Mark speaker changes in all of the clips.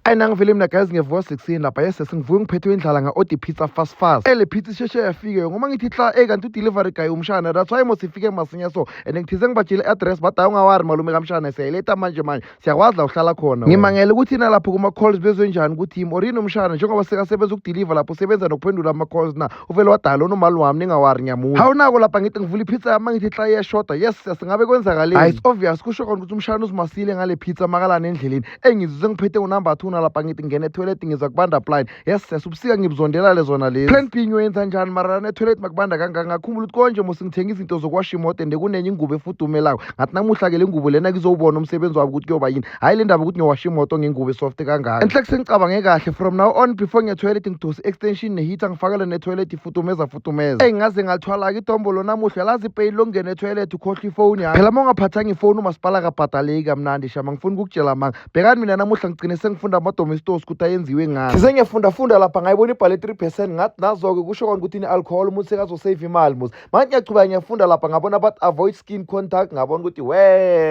Speaker 1: ayi nangivele mina guys ngevuka 16 lapha yes sengivuke ngiphethwe indlala nga-ode pizza fast fast ele pizza isheshe yafike ngoba ngithi hla ey kanti udelivery guy umshana that's why mos ifike masinya so and ngithize ngibatshile i-address but hayi ungawari malume kamshana siyayiletha manje manje siyakwazi la uhlala khona ngimangele ukuthi nalapho kuma-calls bezwenjani ukuthi yimi or yini umshana njengoba sekasebenza ukudeliver lapho usebenza nokuphendula ama-calls na uvele wadala unomali wami ningawari ngiyamuza hawu nako lapha ngithi ngivula ipizza yami ngithi hla iyashoda yes singabe kwenzakaleni hayi it's obvious kusho kona ukuthi umshana uzimasile ngale pizza makalana endleleni engizuze ngiphethe unumber two nalapha ngithi ngingena etoilet ngiza kubanda plan yes sesa ubusika ngibuzondela lezona lezi plan b ngiyoyenza njani mara netoilet makubanda kangaka ngakhumbula ukuthi konje mose ngithenga izinto zokuwasha imoto and kunenye ingubo efudumelako ngathi namuhla ke le ngubo lena ngizowubona umsebenzi wabo ukuthi kuyoba yini hhayi le ndaba ukuthi ngiyowasha imoto ngengubo esoft kangaka enhle kusengicabange kahle from now on before ngetoilet ngidose i-extension neheater ngifakele netoilet ifudumeza kutumeza eyi ngaze ngathwala-ke idombolo namuhla lazi ipeyili lokungena etoilet ukhohlwa ifoni yami phela uma ungaphathanga ifoni umasipala kabhadaleki kamnandi shama ngifuna ukukutshela manga bhekani mina namuhla ngigcine sengifunda amadomestos ukuthi ayenziwe ngani ngize ngiyafundafunda lapha ngayibona ibhale 3 percent ngathi nazo-ke kusho kona ukuthi ine-alcohol umuntu sekazosave imali muzi manje ngiyachubeka ngiyafunda lapha ngabona abathi avoid skin contact ngabona ukuthi we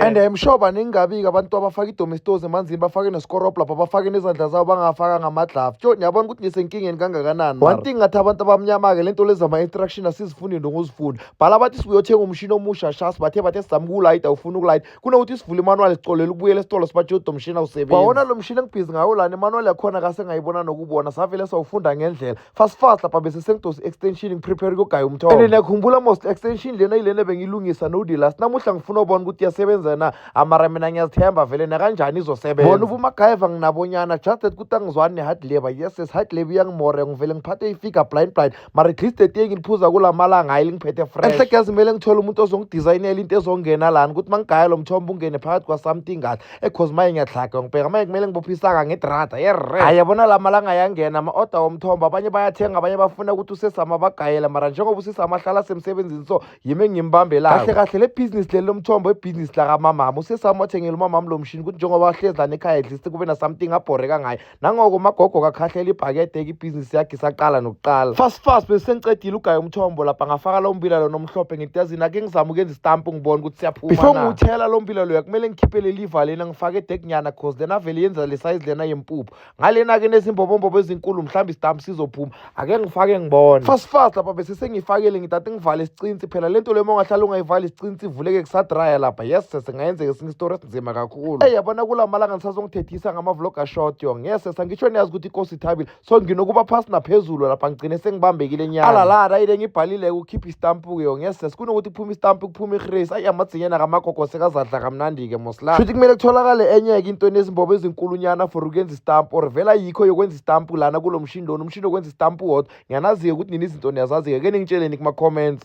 Speaker 1: and I'm sure baningi kabi-ke abantu abafaka idomestos emanzini bafake nescorop lapha bafake nezandla zabo bangafaka ngama-glove tyo niyabona ukuthi ngisenkingeni kangakanani one thing ngathi abantu abamnyama-ke le nto lezi zama-instruction asizifundi into ngozifuni bhala bathi sibuyothenga umshini omusha shas bathe bathe sizama ukuwulayita ufuna ukulayita kunokuthi sivule imanuwali sicolele ukubuyela esitolo sibathi yodomshini awusebenzi wawona lo mshini engibhizi ngawo lana imanuwali yakhona kasengayibona nokubona savele sawufunda ngendlela fasifas lapha bese sengidosa i-extension ngiprepare kuyogaya umthombo and ngiyakhumbula most extension lena yilena bengiyilungisa no delas namuhla ngifuna ubona ukuthi iyasebenza na amara mina ngiyazithemba vele nakanjani izosebenza bona ubumagayeva nginabonyana just that kuthi angizwani ne-hard labor yes yes hard labor iyangimore ngivele ngiphathe ifigure blind blind mara at least etiye ngiliphuza kula malanga hayi lingiphethe fresh enhleke yazimele ngithole umuntu ozongidizayinela into ezongena lana ukuthi mangigaya lo mthombo ungene phakathi kwa-something kahle e cause maye ngiyahlaga ngibheka maye kumele ngibophe isaka ngedrada yerre hayi yabona la malanga ayangena ama-oda womthombo abanye bayathenga abanye bafuna ukuthi usesama bagayela mara njengoba usesama ahlala semsebenzini so yimi engimbambelayo kahle kahle le bhizinisi leli lomthombo ibhizinisi lakamamami usesama wathengela umamami lo mshini ukuthi njengoba ahlezi lana ekhaya edlisi kube na-something abhoreka ngayo nangoko umagogo kakhahlela ibhakede ekibhizinisi yakhe isaqala nokuqala fast fast besisengicedile ugaya umthombo lapha ngafaka lo mbila lo nomhlophe ngitazini ake ngizama ukuyenza isitampu ngibona ukuthi siyaphuma before ngiwuthela lo mbila loya kumele ngikhiphe leli iva lena ngifake edekinyana cause lena vele yenza le sayizi lena yempuphu ngalena-ke nezimbobombobo ezinkulu mhlawumbe isitampu sizophuma ake ngifake ngibone fast fast lapha bese sengifakele ngithathe ngivale isicinsi phela lento le mongahlala ungayivali isicinsi ivuleke kusadraya lapha yes sese ngayenzeka esinye isitori esinzima kakhulu ey yabona kula malanga ngisazongithethisa ngama-vlog ashort yo ngeke sesa ngisho niyazi ukuthi inkosi ithabile so nginokuba phasi naphezulu lapha ngigcine sengibambekile nyana alalala ayile ngibhalile ukukhipha istampu-ke yo ngeke sesa kunokuthi kuphume istampu kuphume ihresi ayi amadzinyana kamagogo sekazadla kamnandi-ke moslaa shuthi kumele kutholakale enye-ke into enezimbobo ezinkulunyana for ukwenza istampu or vela yikho yokwenza isitampu lana kulo mshini lona umshini okwenza isitampu wodwa ngiyanazi-ke ukuthi nina izinto niyazazi-ke ke ningitsheleni kuma-comments